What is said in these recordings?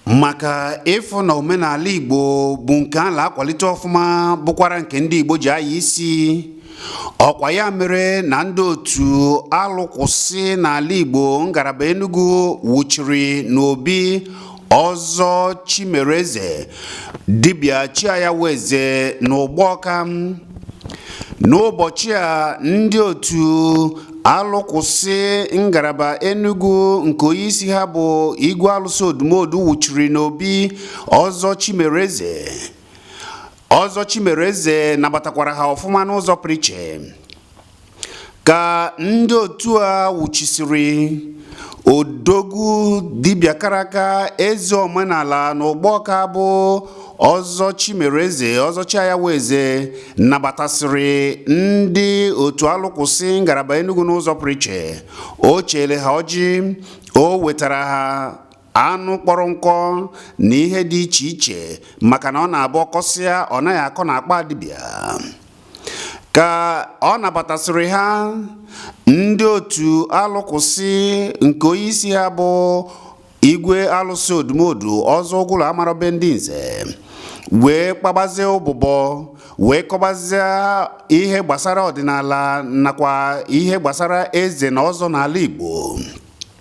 maka ịfụ na omenala Igbo bụ nke a na-akwalite ọfụma bụkwara nke ndị Igbo ji anya isi ọkwa ya mere na ndị otu alụkwụsị n'ala Igbo ngalaba Enugu wuchiri n'obi ọzọ Chimereze dibịa Chiayawa Eze n'Ụgbọka n'ụbọchị a ndị otu alụkwụsị ngalaba enugu nke onyeisi ha bụ igwe alụsị odumodu wụchiri n'obi ọzọ chimereze ọzọ chimereze nabatakwara ha ọfụma n'ụzọ pụrụ iche ka ndị otu a wụchisiri odogwu dibịa kara aka eze omenala n'ụgbọka bụ ọzọ chimereze ọzọ chiayaweze nabatasịrị ndị otu alụkwụsị ngalaba enugu n'ụzọ pụrụ iche o chere ha ọjị o wetara ha anụ kpọrọ nkụ na ihe dị iche iche maka na ọ na-abụ ọ kọsịa ọ naghị akọ n'akpa dibịa ka ọ nabatasịrị ha ndị otu alụkwụsị nke onye isi ha bụ igwe alụsị odumodu ọzọ ụgụlụ amara be ndị nze wee kpabazie ụbụbọ wee kọbazie ihe gbasara ọdịnala nakwa ihe gbasara eze na ọzọ n'ala Igbo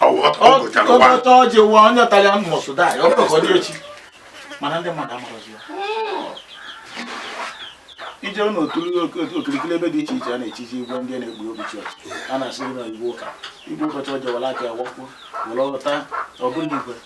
ọ gọcha ọjị waa onye tara ya mmụọ soda ya ọ bụrụ ka ọ dị echi mana ndị mmadụ amarọzi ya ije n'okirikiri ebe dị iche iche a na-echizi igwe ndị na-egbu obi chọọchị a na-asị na igwe ụka igwe ụbọchị ọjọwara aka ya wakpo were ọta ọ bụrụ igwe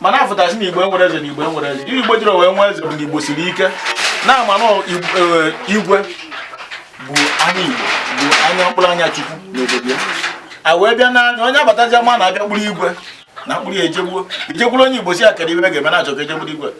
mana a fụta sị na igbo enwerọ eze na igbo enwerọ eze igbo ejirọ wee nwee eze bụ na igbo siri ike na-ama na e, igwe bụ anya igbo bụ anya mkpụrụ anya chukwu n'obodo ya a wee bịa n'anya onye abatazia ma na-abịa kpụrụ igwe na mkpụrụ ya ejegbuo ijegburu onye igbo si ya kedu ibe ga-eme na-achọ ka ejegburu igwe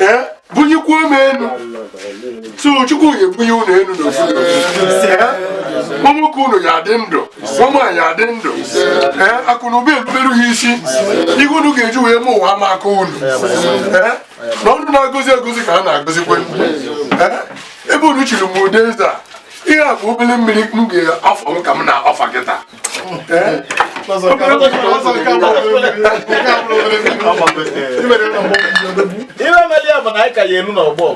ee bunyekwuo m enu sọ chukwu ga-ebunye unu enu n'ofu ụmụ nwoke unu ya adị ndụ ụmụ nwaanyị adị ndụ ee akụ na ụba erubere ha isi ihe unu ga-eji wee ma ụwa ama akọ unu ee na ọnụ na-agọzi agọzi ka a na-agọzikwe ee ebe unu chiri m ụdị eze a ihe a bụ obere mmiri m ga-afọ m ka m na-afa kịta ife meli ya bụ na anyị ka ya elu n'ọgbọ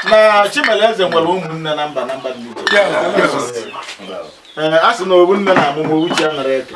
na Chimeleze nwere ụmụnne na mba na mba dị iche iche. Ee, a sị na ofu nne na-amụ ma ofu chi anarọ eke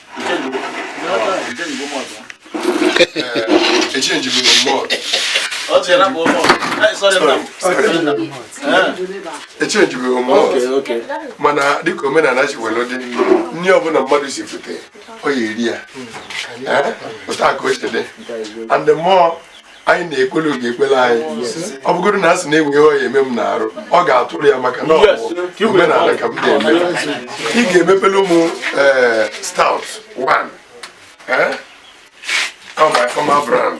echenjibeghị m mana dịka omenala ji were dị nri ọbụla mmadụ sifute ọ ya-eri ya ụta ka o chede and the more anyị na-ekwele ọ ga-ekpele anyị ọ bụgodo na a sị na e nwee ihe ọ ya-eme m n'arụ ọ ga-atụrụ ya maka na ọ bụ omenala ka m na-eme ị ga-emepelu mụ eh, stout one eh? my brand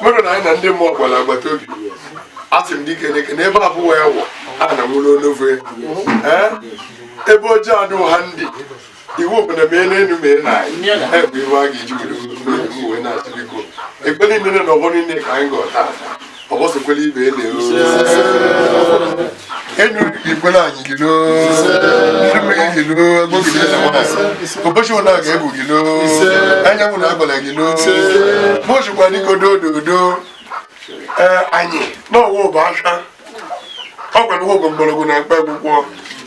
mmadụ na anyị na ndị mmụọ gbara agbata obi asị m dike dike na ebe abụọ ya wụ a na nwụrụ onofe ebe ojii adụ ha ndị iwu bụ na mee n'elu mee na anyị bụ iwu a ga-eji were uwe na-achị biko ekpere niile na ọgbọ niile ka anyị gọọ taa ọgbọsokwela ibe ele ụbọchị ụna ga-egwu gị lo anyanwụ na agbara gị lo mụzikwa dịka odododo anyị n'ọwa ụba asha ọ gwara ụgwọ mgbọrọgwụ na mkpaakwụkwọ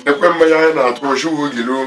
ekwe mmanya anyị na-atụ ochiwu gị lo